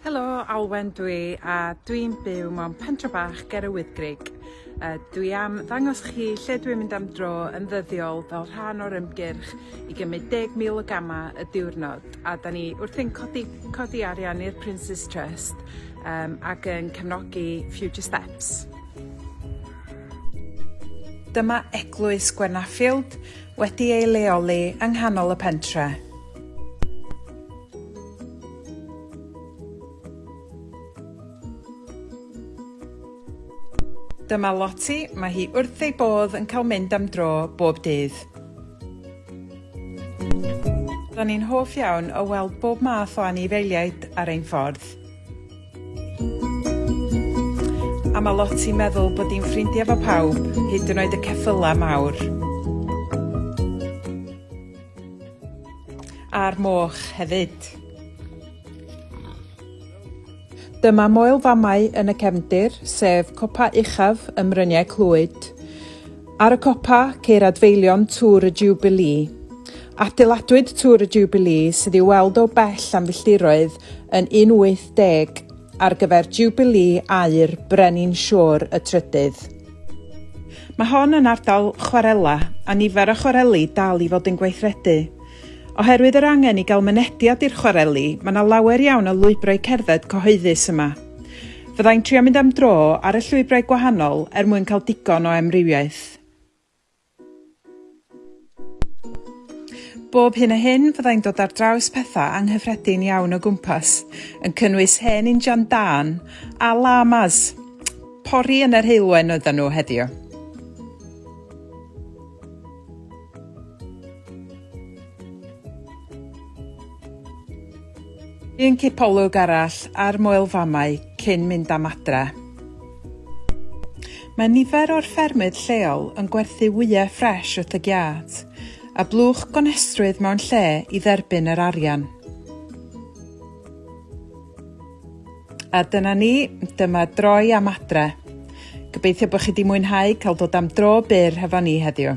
Helo, Alwen dwi a dwi'n byw mewn pentre bach ger y Wyddgrug. Uh, dwi am ddangos chi lle dwi'n mynd am dro yn ddyddiol fel rhan o'r ymgyrch i gymryd 10,000 o gamau y diwrnod a da ni wrthi'n codi, codi arian i'r Prince's Trust um, ac yn cefnogi Future Steps. Dyma eglwys Gwenaffield wedi ei leoli yng nghanol y pentre. Dyma Loti, mae hi wrth ei bodd yn cael mynd am dro bob dydd. Ro'n i'n hoff iawn o weld bob math o anifeiliaid ar ein ffordd. A mae Loti meddwl bod hi'n ffrindiau fo pawb, hyd yn oed y ceffylau mawr. A'r moch hefyd. Dyma moel famau yn y cefndir, sef copa uchaf ym Mryniau Clwyd. Ar y copa, ceir adfeilion Tŵr y Jubilee. Adeiladwyd Tŵr y Jubilee, sydd i'w weld o bell am filltiroedd, yn 18 ar gyfer Jubilee aur Brenin Siôr y Trydydd. Mae hon yn ardal chwarela a nifer o chwareli dal i fod yn gweithredu. Oherwydd yr angen i gael mynediad i'r chwareli, mae yna lawer iawn o lwybrau cerdded cyhoeddus yma. Fyddai'n trio mynd am dro ar y llwybrau gwahanol er mwyn cael digon o emrywiaeth. Bob hyn a hyn fyddai'n dod ar draws pethau anghyffredin iawn o gwmpas, yn cynnwys hen injan dân a lamas. Pori yn yr heulwen oedden nhw heddiw. Un cipolwg arall ar Moel Famau cyn mynd am adre. Mae nifer o'r ffermydd lleol yn gwerthu wyau ffres wrth y giât, a blwch gonestrwydd mewn lle i dderbyn yr arian. A dyna ni, dyma droi am adre. Gobeithio bod chi wedi mwynhau cael dod am dro byr hefo ni heddiw.